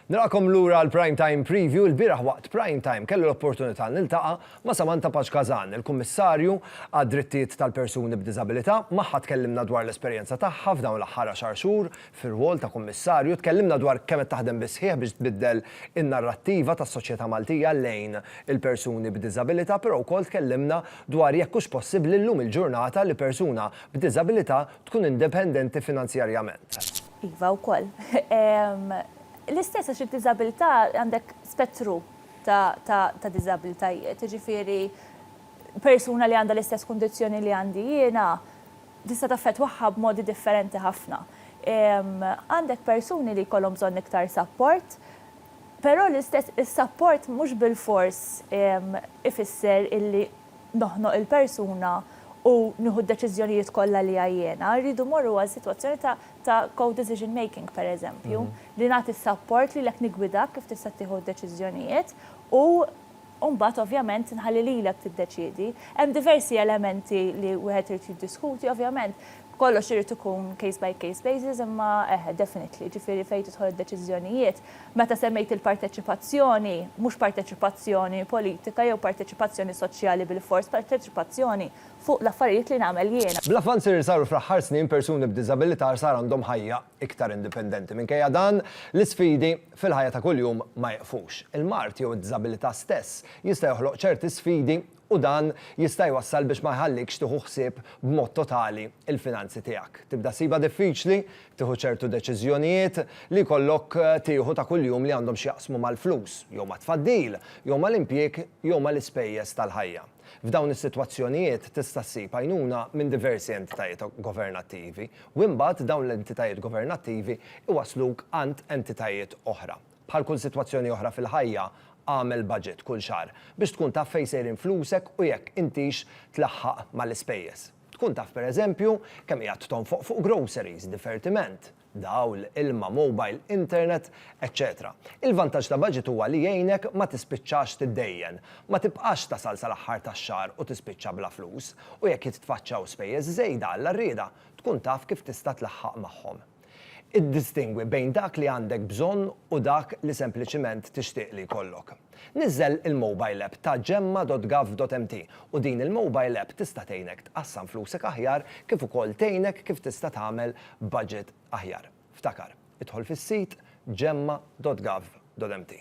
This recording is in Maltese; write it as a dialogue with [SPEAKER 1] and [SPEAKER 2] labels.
[SPEAKER 1] Nilqakom lura għal Prime Time Preview, il-bieraħ waqt Prime Time kelli l-opportunità niltaqa' ma' Samantha Paċ Kazan, il-Kummissarju għad-Drittijiet tal-Persuni b'Diżabilità, magħha tkellimna dwar l-esperjenza tagħha f'dawn l-aħħar għaxar xhur Fir-rwol ta' Kummissarju, tkellimna dwar kemm qed taħdem bis-sħiħ biex tbiddel in-narrattiva tas-soċjetà Maltija lejn il-persuni b'diżabilità, però wkoll tkellimna dwar jekk hux possibbli llum il-ġurnata li persuna b'diżabilità tkun independenti finanzjarjament. Iva wkoll.
[SPEAKER 2] L-istess għax id-diżabilità għandek spettru ta' diżabilitajiet, jiġifieri persuna li għandha l-istess kundizzjoni li għandi jiena, tista' taffettwaha b'modi differenti ħafna. Għandek persuni li jkollhom bżonn iktar sapport, però l-istess is-sapport mhux bilfors ifisser illi noħnoq il-persuna u nieħu d-deċiżjonijiet kollha li hija jiena. Irridu mmorru għal sitwazzjoni ta' ta' co-decision making, pereżempju, li nagħti s-sapport lilek niggwidak kif tista' tieħu d-deċiżjonijiet u u mbagħad ovvjament nħalli lilek tiddeċiedi. Hemm diversi elementi li wieħed irid jiddiskuti, ovvjament kollox irid ikun case by case basis imma eħe definitely, jiġifieri fejn tidħol id-deċiżjonijiet. Meta semmejt il-parteċipazzjoni, mhux parteċipazzjoni politika jew parteċipazzjoni soċjali bilfors, parteċipazzjoni fuq l-affarijiet li nagħmel jiena. Bl-avvanzi li saru fl-aħħar
[SPEAKER 1] snin persuni b'diżabilità sar għandhom ħajja. iktar indipendenti. Minkejja dan, l-isfidi fil-ħajja ta' kuljum ma jiqfux. Il-mard jew id-diżabilità stess jista' joħloq ċerti sfidi u dan jista' jwassal biex ma jħallikx tieħu ħsieb b'mod totali l-finanzi tiegħek. Tibda ssibha diffiċli tieħu ċertu deċiżjonijiet li jkollok tieħu ta' kuljum li għandhom x'jaqsmu mal-flus jew mat-tfaddil jew mal-impjieg jew mal-ispejjeż tal-ħajja. F'dawn is-sitwazzjonijiet tista' ssib għajnuna minn diversi entitajiet governattivi u imbagħad dawn l-entitajiet governattivi jwassluk għand entitajiet oħra. Bħal kull sitwazzjoni oħra fil-ħajja, agħmel baġit kull xahar biex tkun taf fejn sejrin flusek u jekk intix tlaħħaq mal-ispejjeż. Tkun taf pereżempju kemm qiegħed tonfoq fuq groceries, divertiment, dawl, ilma, mowbajl, internet, eċċetera Il-vantaġġ ta' baġit huwa li jgħinek ma tispiċċax tiddejjen. Ma tibqax tasal sal-aħħar tax-xahar u tispiċċa bla flus. U jekk jitfaċċaw spejjeż żejda, Alla rieda, tkun taf kif tista' tlaħħaq magħhom. Iddistingwi bejn dak li għandek bżonn u dak li sempliċiment tixtieq li jkollok. Niżżel il-mobile app ta' Gemma.gov.mt u din il-mobile app tista' tgħinek tqassam flusek aħjar kif ukoll tgħinek kif tista' tagħmel budget aħjar. Ftakar, idħol fis-sit Gemma.gov.mt.